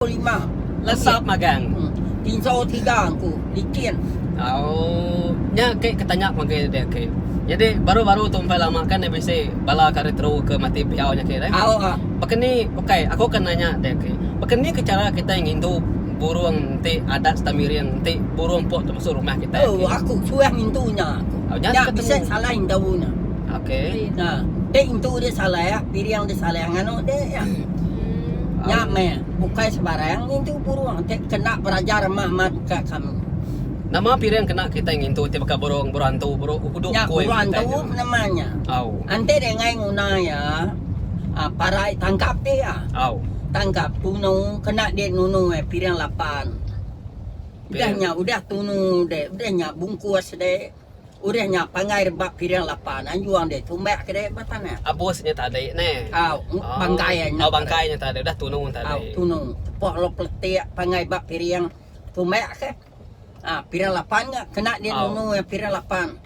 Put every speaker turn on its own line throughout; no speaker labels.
Pukul
lima. Lesa magang. Hmm. Tinjau tiga aku.
Bikin. Oh. Nya ke ketanya panggil dia ke. Jadi baru-baru tu empai lama kan dia bisi bala kari teru ke mati piau nya ke. Au. Ah. Bakani ukai aku akan nanya dia ke. Bakani ke cara kita ngindu burung enti adat serta miring enti burung pok tu masuk rumah kita. Oh,
aku suah ngindu nya. Nya bisa salah indu nya. Okey. Ha.
Dek entu
dia salah, piring dia salah nganu dek ya. Hmm. Ya me, bukai sebarang ngintu burung te kena berajar mak-mak ka kami. Nama piring
kena kita ngintu te baka burung berantu burung uduk ya, koi. Ya, berantu namanya.
Au. Ante dia ngai nguna ya. Ah, parai tangkap dia. Ya. Au. Tangkap tunu kena dia nunu eh piring lapan. Udahnya udah tunu dek, udahnya bungkus dek. Urih nya pangai rebak piring lapa nanjung deh tumbak ke deh ba tanah. Abus nya tadi neh.
Au, bangkai
nya. Au, bangkai nya tadi
udah tunu tadi. Au, tunu. Tepuh lalu
peletik pangai ba piring tumbak ke. Ha, piring lapan nya kena dia nunu iya piring lapan.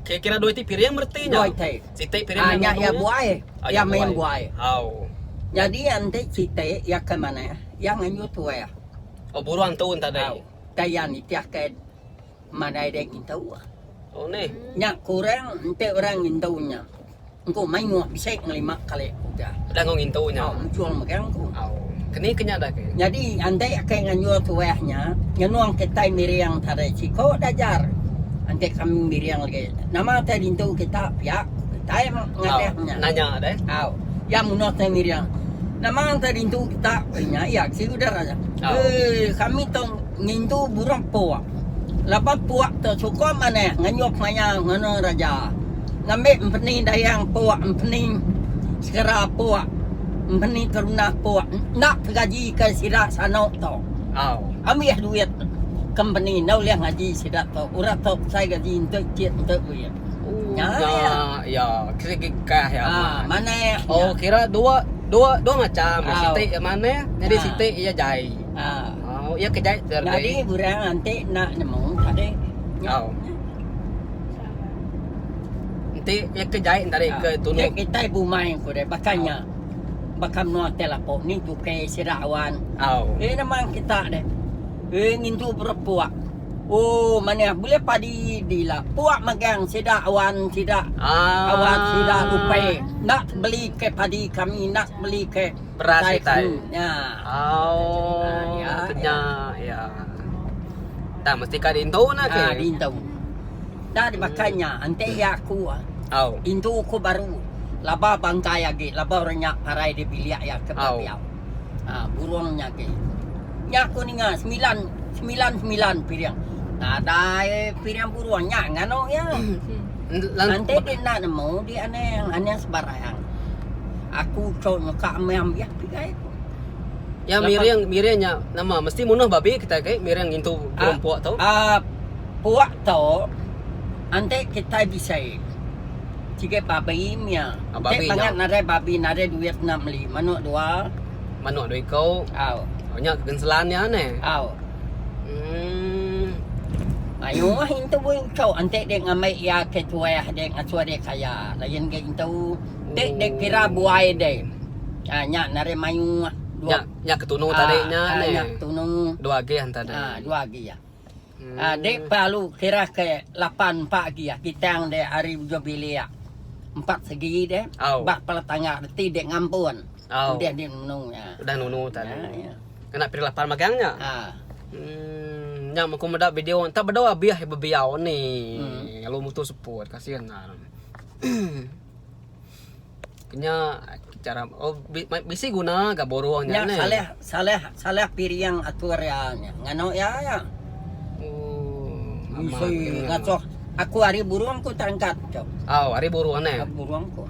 Kira kira dua iti piring
bereti nya. Dua iti. Siti piring
nya. Ha, nya iya
buai. Ha,
iya main buai. Au. Jadi enti siti iya ke manah, iya nganjung tuai. Oh, burung tu
tadi. Au, tadi iya nitih ke.
madai deh ngintu.
Nya kurang
enti orang ngintu nya. Engku mayuh bisi ngelima kali uga.
Mujur mega
engku.
Nyadi enti ake
nganjur tuah nya nyenung kitai miring tadi siko da ajar enti kami miring lagi. Nama te dintu kita pia ku kitai ngadeh nya. Au.
Iya munduh
tai miring. Nama te dintu kita ku inya iya ke sida aja. Ui kami tu ngintu burung pok. Laban puak tu suka manah ngenyup maya ngena raja. Ngambi empeni dayang puak empeni segera puak empeni terunah puak enda tegaji ke sida sano tu. Au. Ambih duit ke empeni enda ulih ngaji sida tu. Orang tu besai gaji enti icit enti duit. Nya iya.
Iya. Segi kah iya manah. Ha manah. Oh
kira dua
dua dua macam. Siti iya manah nyadi siti iya jai. Ha. Oh, iya ke jai Thursday. Nyadi orang anti
nak nemu tadi. Oh.
Enti iya ke jai tadi ah, ke tunu. Nek kita ibu mai ko
deh bakanya. Oh. Bakam nuan teh lapo ni tuke sira awan. Oh. Eh nama kita deh. Eh ngintu berpuak. Oh, mana boleh padi dila. Puak magang sida awan sida. Ah. Awan sida lupai. Nak beli ke padi kami nak beli ke. Beras Utai utai.
kenu
nya.
Au, Ya, kena ya. Tang mesti ka diintu nah ke. Ah, di intu.
Dah di makan nya, enti iya aku ah. Au. Intu ku baru. Laba bangkai agi, laba orang nya parai di bilik iya ke Au. biau. Ah, burung nya agi. Nya ku ninga semilan, semilan-semilan piring. Nadai piring burung nya nganu iya. Ante di enda nemu di anang, anang sebarang. Aku cau nyeka meh ambih pigai ku. Iya
miring miring nya nama mesti munuh babi kitai kai miring ngintu burung ah, puak tu. Ah puak
tu ante kitai bisai sigai babi mia. Ah, babi nya. Bangat narai babi narai duit enda meli manuk dua. Manok dua iko.
Au. Oh, nya kegenselan nya ne. Au. Hmm.
Ayo ah intu bui ucok enti dek ngambi iya ke tuah dek ngasuh dek kaya lain ga intu. Ti dek kira buai dek. Ah nya nari maioh. Nya nya ke tunu
tadi nya ne. Ah nya tunu.
Dua
agi
hanta dek. Ah
dua agi ah.
Dek pelalu kira ke lapan empa agi aki tang dek ari ujung bilik empat segi dek ba kepala tangga reti dek ngampun udah dek nunu nya. Udah nunu
tan. Kena peri lapan magang nya. Uhmm nya men ku meda video enta bedau abih bebiau ni lalu mutu seput kasian tan. Kenya cara oh bisi guna ga borong nya. Nya salah salah
salah piring atur iya nya. Nganu iya ya. Oh. Amat ngasuh aku hari burung ku terangkat tu. Oh, hari burung
ne. Hari burung ku.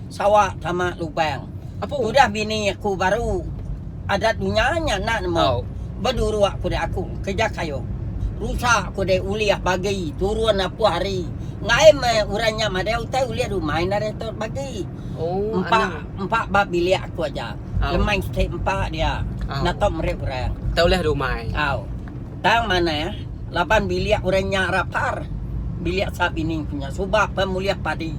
Sawa sama lubang. Apa udah bini aku baru adat dunya nya nak nemu. Oh. Beduruk ku aku kerja kayu. Rusak ku dek ulih bagi turun apu hari. Ngai meh orang nya madai utai ulih rumah enda ada tu bagi. Oh, Empa anak. empa ba bilik aku aja. Au. Lemai sikit empa dia. Au. Enda tau merip orang. Tau ulih rumah.
Au. Tang
manah laban bilik orang nya rapar. Bilik sa bini ku nya suba pun mulih padi.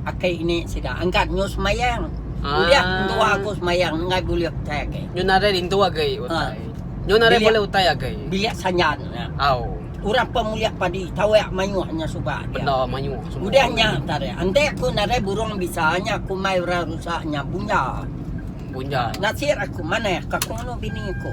Aki ini sida angkat nyu semayang. Ah. Ulih entua aku semayang ngai bulih utai agi. Nyu nadai rintu agi utai.
Ha. Nyu nadai Bilik- bulih utai agi.
Bilik
sanjan nya.
Au.
Urang pa mulia
padi tawek mayuh nya suba dia. Benda mayuh semua. Udah
nya tare.
Ante aku narai burung bisa nya aku mai orang rusa nya bunja. Bunja. Nasir aku manah ka kungunu bini aku.